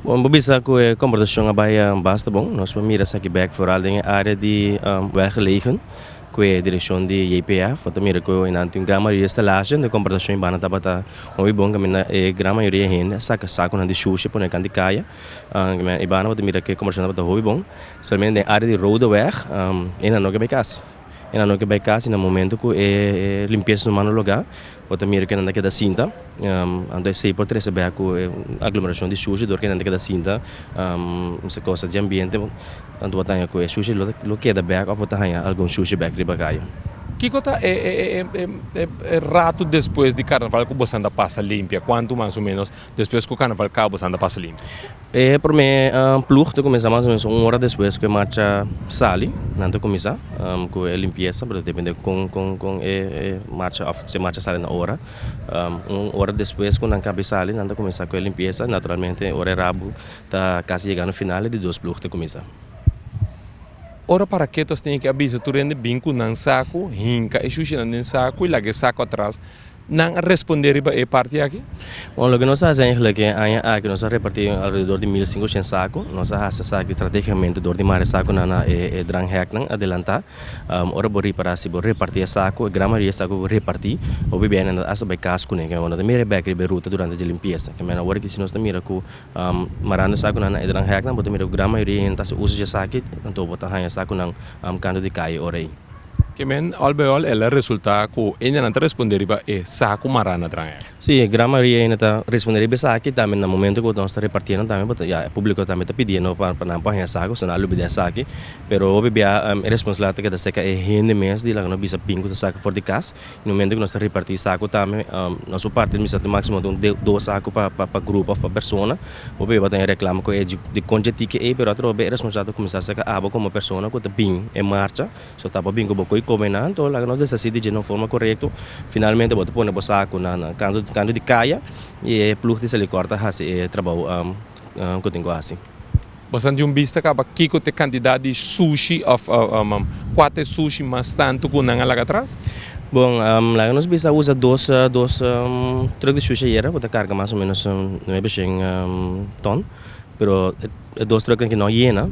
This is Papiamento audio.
Bon, bo bisa cu e comportacion a bay basta bon. Nos por mira esaki bek vooral den e area di welgelegen cu e direccion di JPF. Bo ta mira cu enante un gran mayoria stelashi den e comportacion y banda tabata mooi bon caminda e gran mayoria hende a saca sacunan di shushi a pone cant di caya. Caminda y banda bo ta mira cu e comportacion tabata hooi bon. Solamente den e area di Rode Weg e nan no ke bay cas. E nan no ke bay cas y na momento cu e limpieza humano loga Bo ta mira kinan ta keda sinta, anto esei por trese bek ku e aglomerashon di shushi dor kinan ta keda sinta, esei kosa di ambiente, anto bo ta haña ku e shushi lo keda bek òf bo ta haña algun shushi bek riba kaye. Kiko ta e rato despues di karnaval ku bosan ta pasa limpia? Kuantu mas o menos? Despues ku karnaval kaba bo sanda pasa limpio? E promé plug ta kuminsá mas o menos un ora despues ku e macha sali nan ta kuminsá ku e limpiesa pero ta dependé kon kon kon e macha òf si e macha sali na ora un ora despues ku nan kabe sali nan ta kuminsá ku e limpiesa naturalmente ora e rabu ta kasi yegando final e di dos plug ta kuminsá. Ora paraketos tin e ke a bisa tur hende bin ku nan saku hinka e shushinan den saku i laga e saku atras. Nan a respondé riba e parti aki? Bon, loke nos a hasi aiglak ke aña aki, nos a repartí alrededor di mil sinkoshent saku. Nos a hasi esaki strategikamente dor di mara e sakunan na e drangheknan adelantá. Ora bo ripará, si bo repartí e saku, e gran mayoria e saku ku bo repartí, bo bibia nan ta hasta bai kas kuné. Keme bo no ta mira e bèk riba e ruta durante dje limpiesa. Keme nan wòrdu ki si nos ta mira ku marando e sakunan na e drangheknan, bo ta mira ku gran mayoria nan ta hasi uso dje esaki, anto bo ta haña e sakunan kantu di kai ora ei. Kemen, ol bij ol, el a resultá ku endenan ta respondé riba e sa ku mará na dran ei. Sí, e Gran Maria ei no ta respondé riba esaki, i tambe na momento ku nos ta repartiendo tambe, bo ta ya e públiko tambe ta pidiendo pa nan por haña esaki, osuna a lubidá esaki, pero hopi bia e responsabilidad ta keda serka e hende mes di laga nos bisa bin ku ta saka for di kas. Na momento ku nos ta reparti saku tambe nos por parti mester tin máksimo di un dos saku pa grupo òf pa persona bo poi bo ta reklama ku ei di konchi e tiki ei pero a trobe e responsabilidad ta kuminsá serka abo komo persona ku ta bin e marcha so ta bo bin ku bo ko'i kome nan to laga nos desasi di dje na un forma korekto finalmente bo ta pone bo saku na kantu di kaya i e plug di Selikor ta hasi e trabou. ku tin ku hasi. Bastante un bista kaba kiko ta e kantidat di sushi òf kua ta e sushi mas tantu ku nan a laga atras? Bon, laga nos bisa a usa dos dos truk di sushi ayera ku ta karga mas o menos nuebe shen ton, pero e dos truknan ke no a yena.